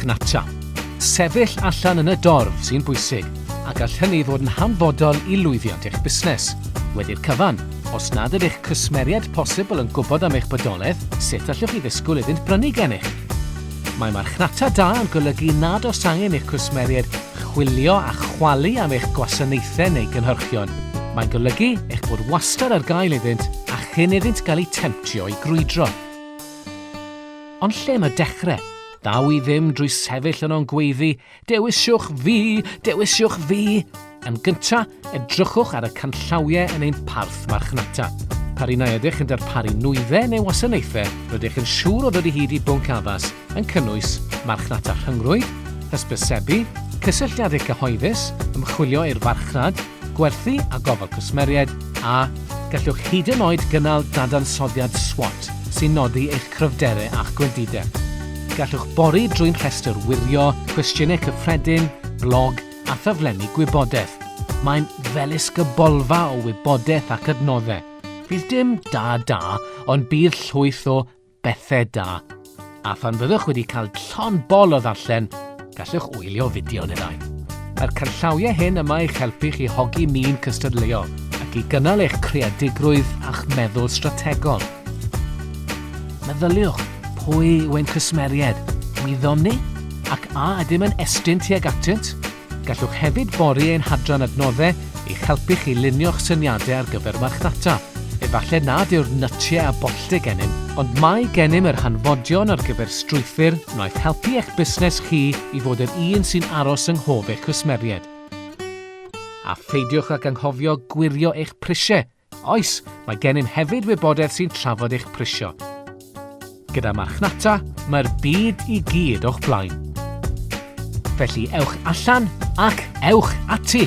marchnata. Sefyll allan yn y dorf sy'n bwysig a gall hynny fod yn hanfodol i lwyddiant eich busnes. Wedi'r cyfan, os nad ydych cwsmeriaid posibl yn gwybod am eich bodoledd, sut allwch chi ddisgwyl iddynt brynu gennych? Mae marchnata da yn golygu nad oes angen eich cwsmeriaid Chwilio a chwalu am eich gwasanaethau neu gynhyrchion. Mae'n golygu eich bod wastad ar gael iddynt a chyn iddynt gael eu temtio i grwydro. Ond lle mae dechrau? Daw i ddim drwy sefyll yno'n gweiddi, 'Dewisiwch fi! Dewisiwch fi! Yn gyntaf, edrychwch ar y canllawiau yn ein parth marchnata. Pa rynnau ydych yn darparu nwyddau neu wasanaethau rydych yn siŵr o ddod i hyd i bwnc addas yn cynnwys marchnata rhyngrwyd, hysbysebu, cysylltiadau cyhoeddus, ymchwilio i'r farchnad, gwerthu a gofal cwsmeriaid, a gallwch hyd yn oed gynnal dadansoddiad SWOT sy'n nodi eich cryfderau a'ch gwendidau. Gallwch bori drwy'n rhestr wirio, cwestiynau cyffredin, blog, a thaflenni gwybodaeth. Mae'n ddelisgybolfa o wybodaeth ac adnoddau. Fydd dim da da, ond bydd llwyth o bethau da. A phan fyddwch wedi cael llon bol o ddarllen, gallwch wylio fideo neu ddau. Mae'r canllawiau hyn yma i'ch helpu chi hogi min cystadleuol ac i gynnal eich creadigrwydd a'ch meddwl strategol. Meddyliwch, pwy yw ein cwsmeriaid? Wyddom ni? Ac a ydym yn estyn tuag atynt? Gallwch hefyd bori ein hadran adnoddau i'ch helpu chi lunio'ch syniadau ar gyfer marchnata. Efallai nad yw'r nytiau a bolltiau gennym, ond mae gennym yr hanfodion ar gyfer strwythur wnaeth helpu eich busnes chi i fod yr un sy'n aros yng nghof eich cwsmeriaid. A pheidiwch ag anghofio gwirio eich prisiau! Oes, mae gennym hefyd wybodaeth sy'n trafod eich prisio. Gyda marchnata, mae'r byd i gyd o'ch blaen. Felly ewch allan ac ewch ati!